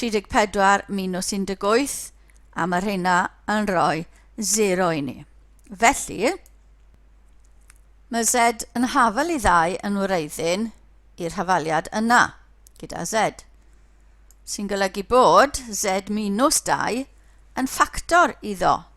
34 minus 18, a mae rheina yn rhoi 0 i ni. Felly, mae Z yn hafal i ddau yn wreiddyn i'r hafaliad yna, gyda Z, sy'n golygu bod Z minus 2 yn ffactor iddo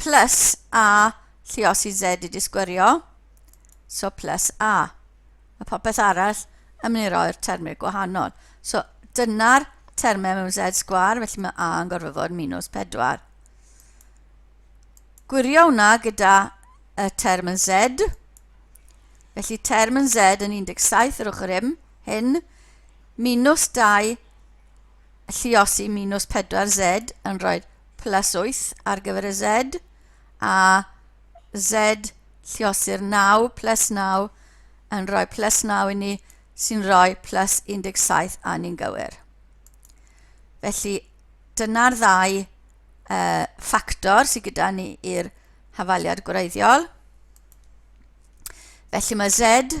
plus a lluos i z i disgwyrio, so plus a. Mae popeth arall yn mynd i roi'r termau gwahanol. So dyna'r termau mewn z sgwar, felly mae a yn gorfod fod minus 4. Gwirio hwnna gyda y term yn z, felly term yn z yn 17 yr ochr hyn, hyn minus 2 Lluosi minus 4Z yn rhoi plus 8 ar gyfer y Z, a Z lliosi'r 9 plus 9 yn rhoi plus 9 i ni, sy'n rhoi plus 17 a ni'n gywir. Felly, dyna'r ddau uh, ffactor sydd gyda ni i'r hafaliad gwreiddiol. Felly mae Z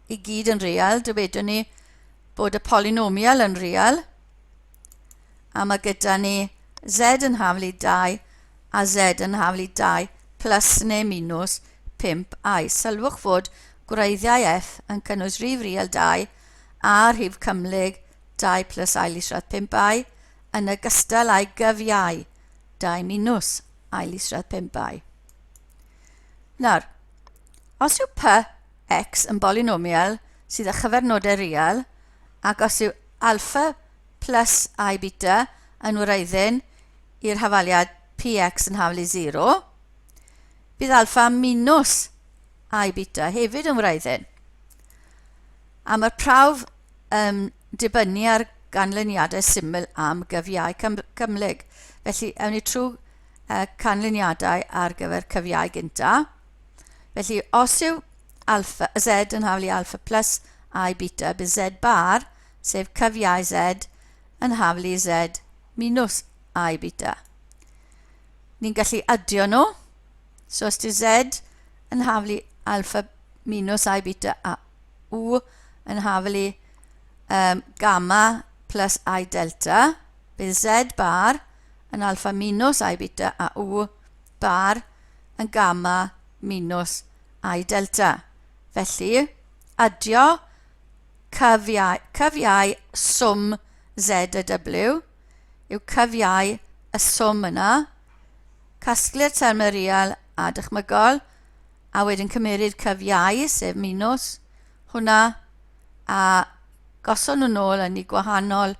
i gyd yn real, dywedwn ni bod y polinomial yn real, a mae gyda ni z yn hafl i 2 a z yn hafl i 2 plus neu minus 5 i. Sylwch fod gwreiddiau f yn cynnwys rhif real 2 a rhif cymhlyg 2 plus ail isradd 5 i, yn ogystal â'i gyfiau 2 minus ail isradd 5 i. Nawr, os yw p X yn bolynomial sydd â chyfernodau real ac os yw alpha plus i beta yn wraiddyn i'r hafaliad px yn hafal i 0, bydd alpha minus i beta hefyd yn wraiddyn. A mae'r prawf yn dibynnu ar ganlyniadau syml am gyfiau cymhlyg. Felly, ewn ni trwy canlyniadau ar gyfer cyfiau gyntaf. Felly, os yw alpha, z yn hawl i alpha plus i beta, bydd z bar, sef cyfiau z, yn hawl i z minus i beta. Ni'n gallu adio nhw. So os yw z yn hawl i alpha minus i beta a u yn hawl i um, gamma plus i delta, bydd z bar yn alpha minus i beta a u bar yn gamma minws I delta. Felly, adio cyfiau, cyfiau swm Z a W yw cyfiau y swm yna, casglu'r termau real a dychmygol, a wedyn cymeryd cyfiau, sef minws, hwnna, a gosod nhw'n ôl yn ei gwahanol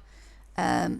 um,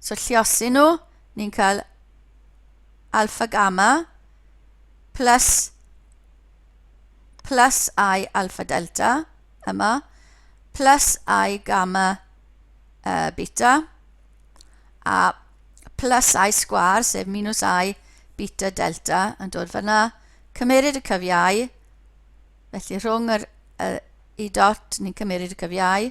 So lliosi nhw, ni'n cael alpha gamma plus, plus i alpha delta yma, plus i gamma uh, beta, a plus i sgwar, sef minus i beta delta, yn dod fyna. Cymeryd y cyfiau, felly rhwng yr, y i dot, ni'n cymeryd y cyfiau.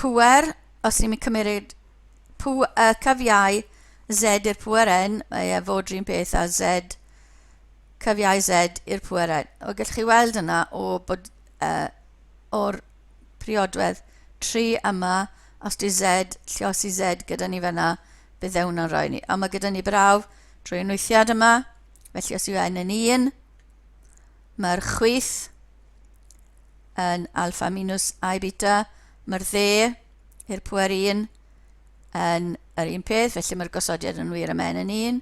pŵer, os ni'n cymryd pw, y cyfiau z i'r pŵer n, mae e fod rhywun peth a z cyfiau z i'r pŵer n. O, gallwch chi weld yna o bod uh, o'r priodwedd 3 yma, os di z, lliosi z gyda ni fyna, bydd e hwnna'n rhoi ni. A mae gyda ni brawf trwy enwythiad yma, felly os yw n yn 1, mae'r chwyth yn alfa minus i beta, mae'r dde i'r pwer 1 yn yr un peth, felly mae'r gosodiad yn wir am n yn 1.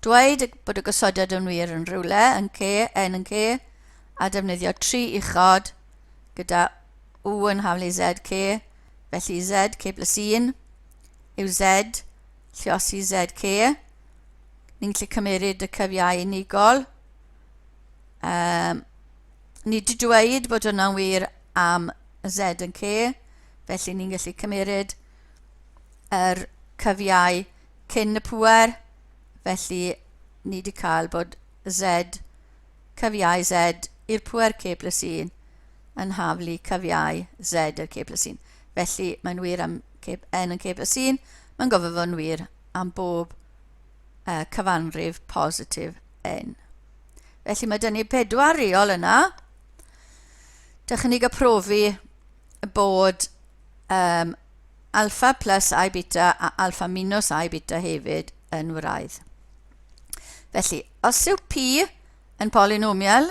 Dweud bod y gosodiad yn wir yn rhywle, yn c, n yn c, a defnyddio tri uchod gyda u yn haflu zc, felly zc plus 1 yw z lliosi zc. Ni'n gallu cymeryd y cyfiau unigol, Um, ni di dweud bod hwnna'n wir am Z yn C, felly ni'n gallu cymeryd yr cyfiau cyn y pwer, felly ni di cael bod Z, cyfiau Z i'r pwer C plus 1 yn haflu cyfiau Z i'r C plus 1. Felly mae'n wir am N yn C plus 1, mae'n gofod fod yn wir am bob uh, cyfanrif positif n. Felly mae dyn ni pedwar reol yna. Dych chi'n ei gyprofi bod um, alfa plus i beta a alfa minus i beta hefyd yn wraidd. Felly, os yw P yn polinomial,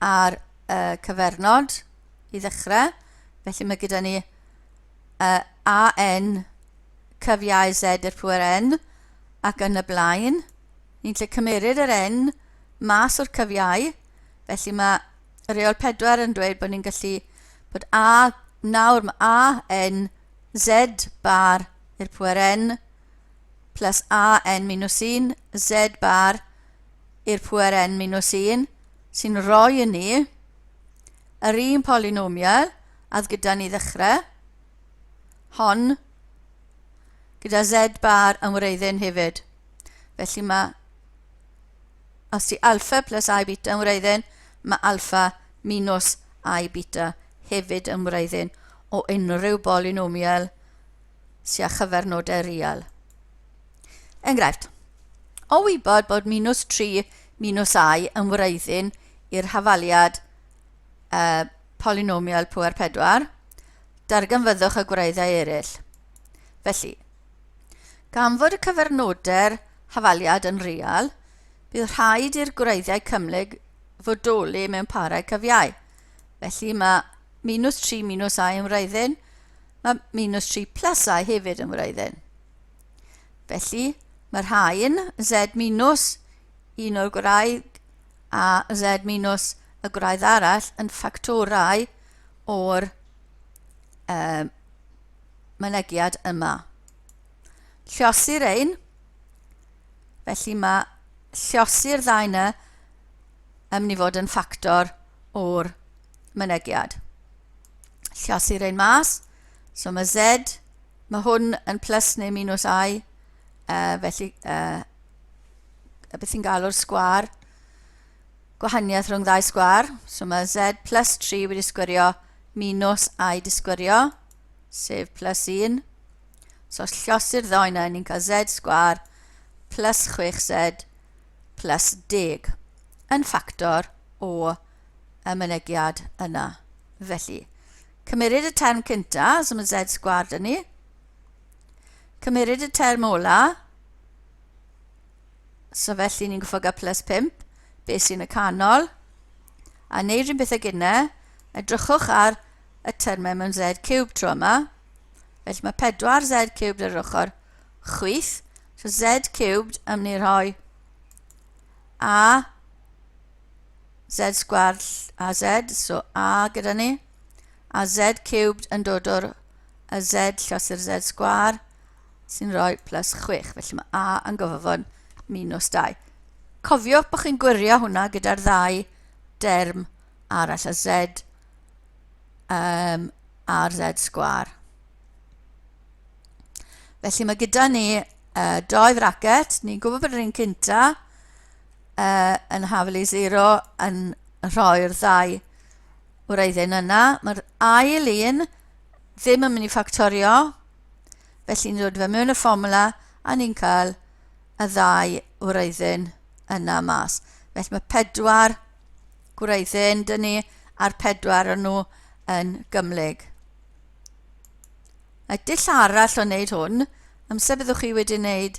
ar y cyfernod i ddechrau. Felly mae gyda ni uh, AN cyfiau Z i'r pwer N ac yn y blaen. Ni'n lle cymeryd yr N mas o'r cyfiau. Felly mae reol 4 yn dweud bod ni'n gallu bod A nawr mae AN Z bar i'r pwer N plus AN minus 1 Z bar i'r pŵer n minus 1 sy'n rhoi i ni yr un polinomial add gyda ni ddechrau, hon gyda z bar yn wreiddyn hefyd. Felly mae, os ti alfa plus i beta yn wreiddyn, mae alfa minus i beta hefyd yn wreiddyn o unrhyw bolinomial sy â chyfernodau real. Enghraifft, o wybod bod minws 3 minws i yn wreiddyn i'r hafaliad uh, polynomial pŵer 4, darganfyddwch y gwreiddau eraill. Felly, gan fod y cyfernodau'r hafaliad yn real, bydd rhaid i'r gwreiddau cymhlyg fodoli mewn parau cyfiau. Felly mae minws 3 minws i yn wreiddyn, Mae minus 3 plus i hefyd yn wraidd-n. Felly, mae'r rhain, z minus un o'r gwraidd a z minus y gwraidd arall yn ffactorau o'r um, mynegiad yma. Llosir ein, felly mae llosir ddau yna yn mynd i fod yn ffactor o'r mynegiad. Llasu rein mas. So mae Z, mae hwn yn plus neu minus I, uh, felly uh, y beth sy'n galw'r sgwar, gwahaniaeth rhwng ddau sgwar. So mae Z plus 3 wedi sgwirio minus I disgwirio, sef plus 1. So os llosir ddoen yna, ni'n cael Z sgwar plus 6Z plus 10 yn ffactor o y mynegiad yna. Felly, cymeryd y term cynta, so mae Z sgward yn ni. Cymeryd y term ola, so felly ni'n gyffog a plus 5, beth sy'n y canol, a wneud rhywun beth ag yna, edrychwch ar y termau mewn Z cube tro yma. Felly mae 4 Z cubed ar yr ochr chwith. So Z cubed am ni rhoi A z sgward a z, so a gyda ni, a z cubed yn dod o'r a z llosir z sgwar, sy'n rhoi plus 6, felly mae a yn gofod minus 2. Cofiwch bod chi'n gwirio hwnna gyda'r ddau derm arall, a z um, a'r z sgwar. Felly mae gyda ni uh, doi fracet, ni'n gwybod bod yr un cynta, uh, yn haflu 0 yn rhoi'r ddau wreiddyn yna. Mae'r ail un ddim yn mynd i ffactorio, felly ni'n dod fe mewn y fformula a ni'n cael y ddau wreiddyn yna mas. Felly mae pedwar gwreiddyn dyn ni a'r pedwar yn nhw yn gymlyg. Y dull arall o wneud hwn, amser byddwch chi wedi wneud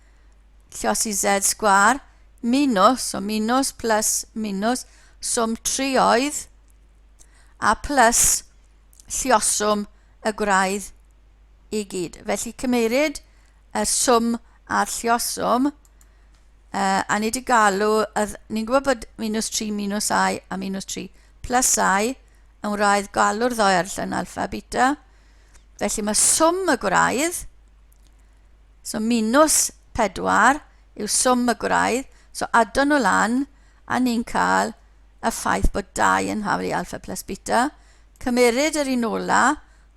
Llosi Z sgwâr minws, so minws plus minws, swm trioedd a plus llioswm y gwraidd i gyd. Felly cymeryd y swm a'r llioswm, uh, a ni wedi galw, ni'n gwybod bod minws 3 minws i a minws 3 plus i yn wraidd galw'r ddoe ar llyn alfa beta. Felly mae swm y gwraidd so minws 4 yw swm y gwraidd, so addo nhw lan a ni'n cael y ffaith bod 2 yn hawl i alpha plus beta, cymeryd yr un ola,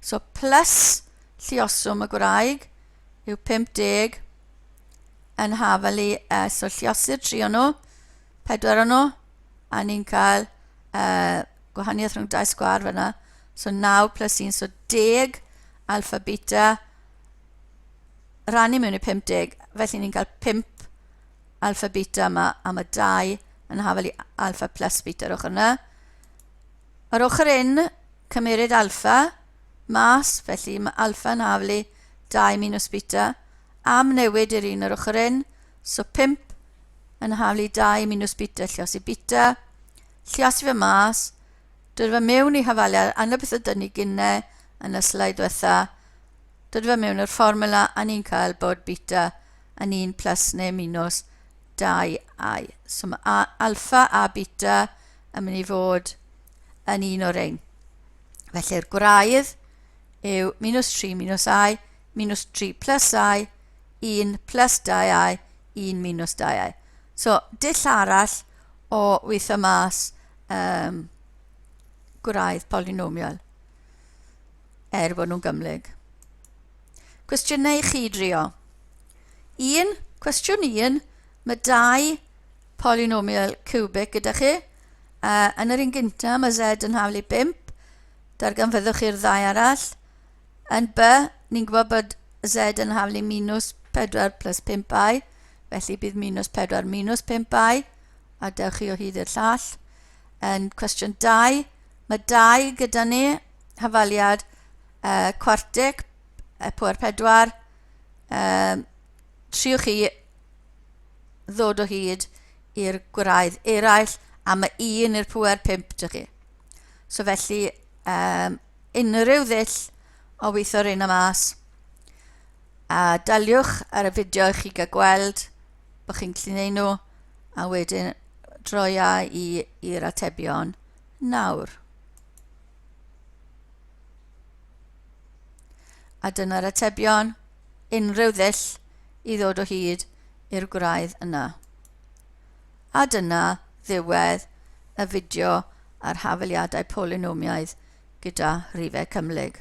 so plus llioswm y gwraig yw 50 yn hawl i, uh, so lliosur 3 o'n nhw, 4 o'n nhw, a ni'n cael uh, gwahaniaeth rhwng dau sgwar fyna, so 9 plus 1, so 10 alfa beta, rannu mewn i 50, felly ni'n cael 5 alfa beta yma, a mae 2 yn hafel i alfa plus beta ar ochr yna. Ar ochr un, cymeryd alfa mas, felly mae alfa yn hafel i 2 minus beta, am newid i'r un ar ochr un, so 5 yn hafel i 2 minus beta, lliosi beta, lliosi fe mas, Dod fe mewn i hafaliad, angen beth ydyn ni gynne yn y sleid diwetha. Dod fe mewn i'r fformula, a ni'n cael bod beta yn 1 plus neu minus 2i. So mae alfa a beta yn mynd i fod yn un o'r ein. Felly'r gwraidd yw minus 3 minus i, minus 3 plus i, 1 plus 2i, 1 minus 2i. So, dull arall o weithio mas um, gwraidd polinomial er bod nhw'n gymlyg. Cwestiynau i chi drio. Un, cwestiwn un, mae dau polynomial cubic gyda chi. Uh, yn yr un gyntaf mae z yn haflu 5, darganfyddwch chi'r ddau arall. Yn by, ni'n gwybod bod z yn haflu minus 4 plus 5i, felly bydd minus 4 minus 5i, a dewch chi o hyd i'r llall. Yn cwestiwn 2, mae 2 gyda ni, hafaliad uh, cwartig, uh, pwer 4, uh, triwch chi ddod o hyd i'r gwraidd eraill a mae un i'r pwer 5 dych chi. So felly, um, unrhyw ddull o weithio reina mas a daliwch ar y fideo i chi gael gweld bod chi'n gallu neud nhw a wedyn droi a i i'r atebion nawr. A dyna'r atebion, unrhyw ddull i ddod o hyd i'r gwraidd yna. A dyna ddiwedd y fideo ar hafaliadau polynomiaidd gyda rhifau cymhlyg.